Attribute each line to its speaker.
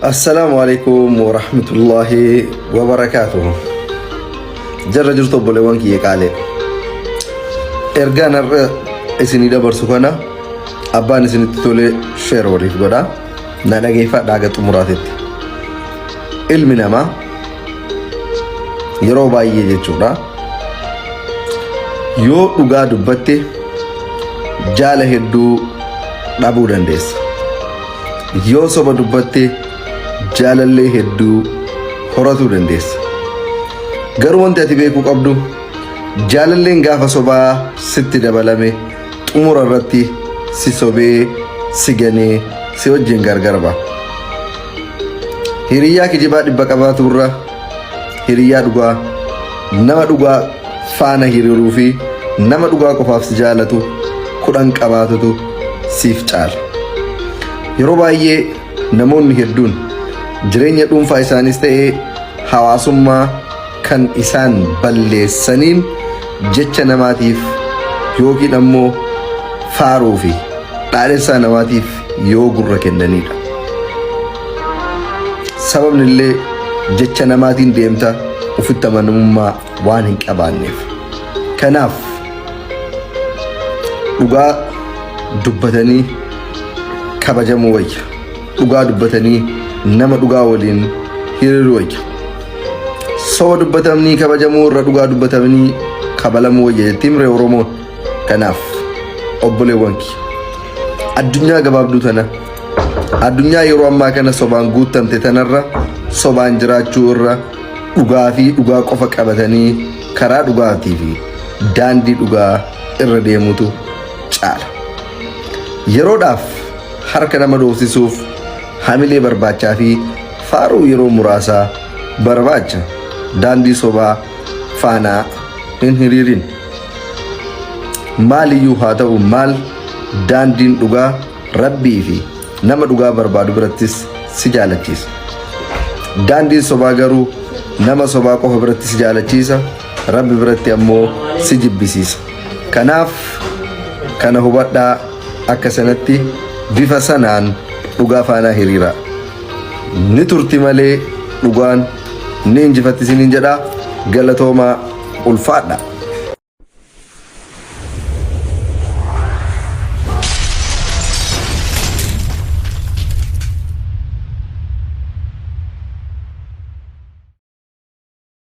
Speaker 1: Assalaamu alaikum wa rahmatullahi wa barakaatuhu. Jarra jirtu obboleewwan kiyya qaalee. Ergaan har'a isinii dabarsu kana abbaan isinitti tole sheer waliif godha. Na dhageeffadha haga xumuraatitti. Ilmi namaa yeroo baay'ee jechuudha yoo dhugaa dubbatte jaala hedduu dhabuu dandeessa yoo soba dubbatte jaalallee hedduu horatuu dandeessa garuu wanti ati beekuu qabdu jaalalleen gaafa sobaa sitti dabalame xumura irratti si sobee si ganee si wajjin gargar ba'a. Hiriyyaa kijibaa dhibba qabaatu irra hiriyyaa dhugaa nama dhugaa faana hiriiruu fi nama dhugaa qofaaf si jaalatu kudhan qabaatutu siif caala. Yeroo baay'ee namoonni hedduun jireenya dhuunfaa isaaniis ta'ee hawaasummaa kan isaan balleessaniin jecha namaatiif yookiin ammoo faaruu fi dhaadhessaa namaatiif yoo gurra kennaniidha. Sababni illee jecha namaatiin deemta ofitti amanamummaa waan hin qabaanneef. Kanaaf dhugaa dubbatanii kabajamuu wayya. Dhugaa dubbatanii nama dhugaa waliin hiriiruu wayya. Soba dubbatamnii kabajamuu irra dhugaa dubbatamnii kabalamuu wayya jettiin miree Oromoo. Kanaaf obboleewwan kiyya. Addunyaa gabaabduu tana addunyaa yeroo ammaa kana sobaan guuttamte tanarra sobaan jiraachuu irra dhugaa fi dhugaa qofa qabatanii karaa dhugaatii fi daandii dhugaa irra deemutu caala. Yeroodhaaf harka nama dhoofsisuuf hamilee barbaachaa fi faaruu yeroo muraasaa barbaacha daandii sobaa faanaa hin hiriirin. Maaliyyuu haa ta'u maal daandiin dhugaa rabbii fi nama dhugaa barbaadu birattis si jaalachiisa. Daandiin sobaa garuu nama sobaa qofa biratti si jaalachiisa rabbi biratti ammoo si jibbisiisa. Kanaaf kana hubadhaa. Akka sanatti bifa sanaan dhugaa faanaa hiriiraa. Ni turti malee dhugaan ni injifatti isiniin jedha galatoomaa ulfaadha.